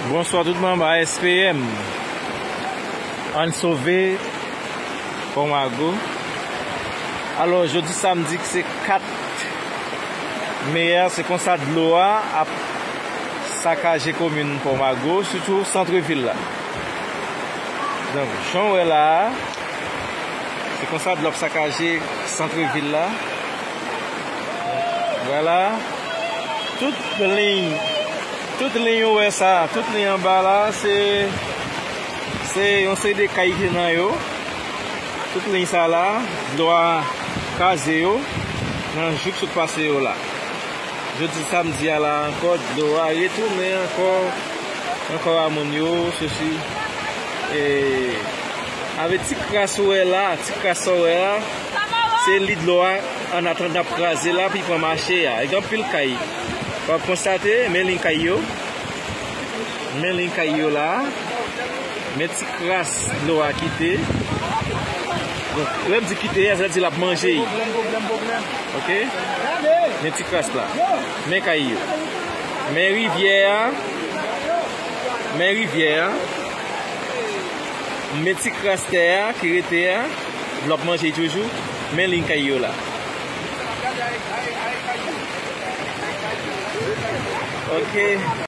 Bonswa tout manm ASPM Ann sove Pon Mago Alò jodi samdi ki se 4 Me a se konsa dlo a ap sakaje komin Pon Mago sitou santre vil la Donk jan w wè la a se konsa dlo ap sakaje santre vil la. Vwala tout liy tout liy ou wè sa a tout liy anba la a se se yon seri de kay ki nan yo tout liy sa la a dlo a kraze yo nan jou k sot pase yo la jodi samdi a la a ankò dlo a retounen ankò nan kò a moun yo sosi e avè ti kras ou wè la a ti kras sa w wè a Se li dlo a an atandan ap kraze la pi pran mache a. E gen anpil kay. Wap konstate men liy kay yo. Men liy kay yo la. Men ti kras dlo a kite. Donk lè m di kite a sa vle di lap manje. Ok. Men ti kras la. Men kay yo. Men rivyè a. Men rivyè a. Men ti kras tè a ki rete a. L ap manje joujou, men li kay yo la. Ok.